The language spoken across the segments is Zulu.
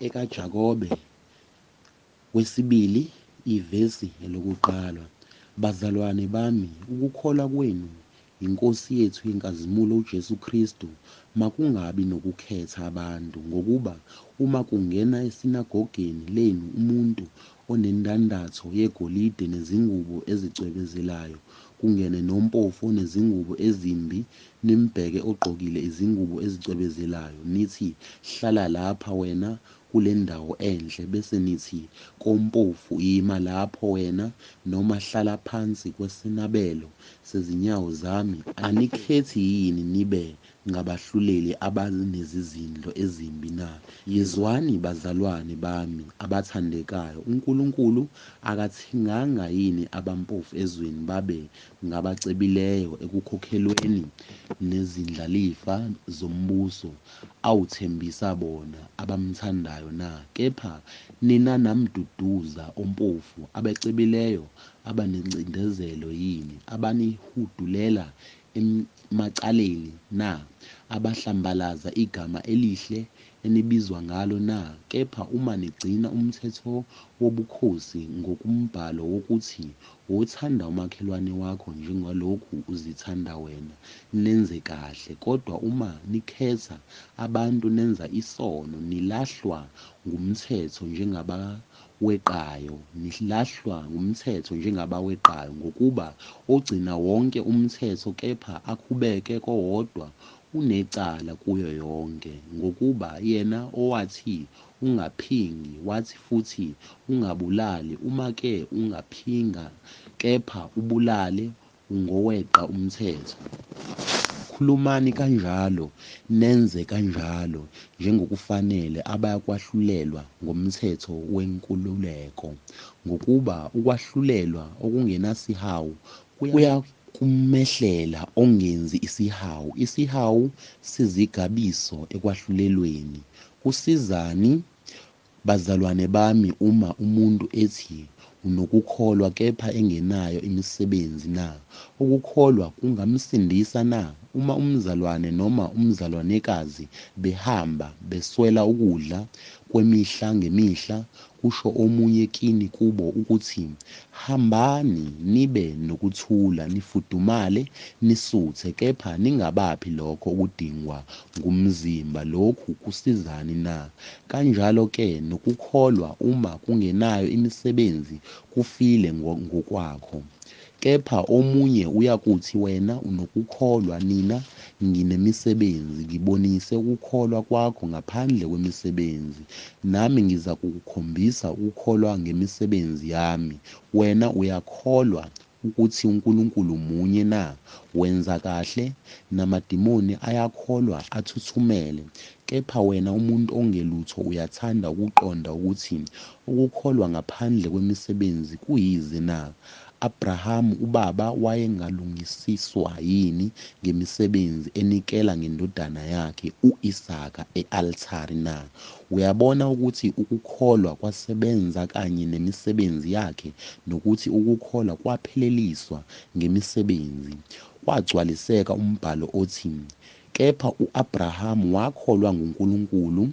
EkaJakobe, wesibili, ivesi elokuqala. Bazalwane bami, ukukholwa kwenu yiNkosi yethu yenkazimulo uJesu Kristu makungabi nokukhetha abantu, ngokuba uma kungena esinagogeni lenu umuntu onendandatho yegolide nezingubo ezicwebezelayo, kungene nompofu onezingubo ezimbi, nimbheke ogqokile izingubo ezicwebezelayo, nithi, Hlala lapha wena, kule ndawo enhle, bese nithi kompofu, Ima lapho wena, noma hlala phansi kwesinabelo sezinyawo zami, anikhethi yini nibe ngabahluleli abanezizindlo ezimbi na? Yizwani, bazalwane bami abathandekayo, uNkulunkulu akathenganga yini abampofu ezweni babe ngabacebileyo ekukhokhelweni nezindlalifa zombuso awuthembisa bona abamthandayo na? Kepha nina namduduza ompofu abacebileyo abanencindezelo yini, abanihudulela emacaleni na? Abahlambalaza igama elihle enibizwa ngalo na? Kepha uma nigcina umthetho wobukhosi ngokumbhalo wokuthi, Wothanda umakhelwane wakho njengalokhu uzithanda wena, nenze kahle, kodwa uma nikhetha abantu nenza isono, nilahlwa ngumthetho njengabakwa. weqayo nihlahlwa ngumthetho njengabaweqayo ngokuba ogcina wonke umthetho kepha akhubeke kowodwa unecala kuyo yonke ngokuba yena owathi ungaphingi wathi futhi ungabulali uma ke ungaphinga kepha ubulale ngoweqa umthetho. Khulumani kanjalo, nenze kanjalo njengokufanele abayakwahlulelwa ngomthetho wenkululeko, ngokuba ukwahlulelwa okungenasihawu kuyakumehlela ongenzi isihawu. Isihawu sizigabiso ekwahlulelweni. Kusizani? Bazalwane bami uma umuntu ethi unokukholwa kepha engenayo imisebenzi na? Ukukholwa kungamsindisa na? Uma umzalwane noma umzalwanekazi behamba beswela ukudla kwemihla ngemihla, kusho omunye kini kubo ukuthi, Hambani nibe nokuthula nifudumale nisuthe kepha ningabaphi lokho okudingwa ngumzimba lokhu kusizani na? Kanjalo ke nokukholwa uma kungenayo imisebenzi kufile ngokwakho. Kepha omunye uyakuthi wena unokukholwa nina nginemisebenzi ngibonise ukukholwa kwakho ngaphandle kwemisebenzi nami ngizakukukhombisa ukukholwa ngemisebenzi yami wena uyakholwa ukuthi uNkulunkulu munye na? Wenza kahle, namadimoni ayakholwa, athuthumele. Kepha wena umuntu ongelutho uyathanda ukuqonda ukuthi ukukholwa ngaphandle kwemisebenzi kuyize na? Abrahamu ubaba wayengalungisiswa yini ngemisebenzi enikela ngendodana yakhe u-Isaka e-althari na? Uyabona ukuthi ukukholwa kwasebenza kanye nemisebenzi yakhe nokuthi ukukholwa kwapheleliswa ngemisebenzi. Kwagcwaliseka umbhalo othi, Kepha u-Abraham wakholwa nguNkulunkulu,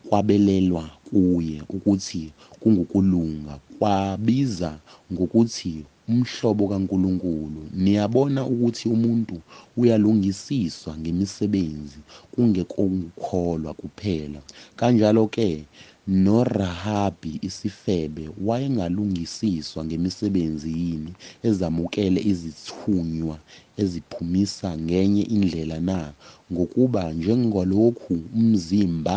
kwabelelwa kuye ukuthi kungukulunga, kwabiza ngokuthi umhlobo kaNkulunkulu. Niyabona ukuthi umuntu uyalungisiswa ngemisebenzi, kungekongukholwa kuphela. Kanjalo-ke, noRahabi isifebe wayengalungisiswa ngemisebenzi yini ezamukele izithunywa eziphumisa ngenye indlela na? Ngokuba njengalokhu umzimba,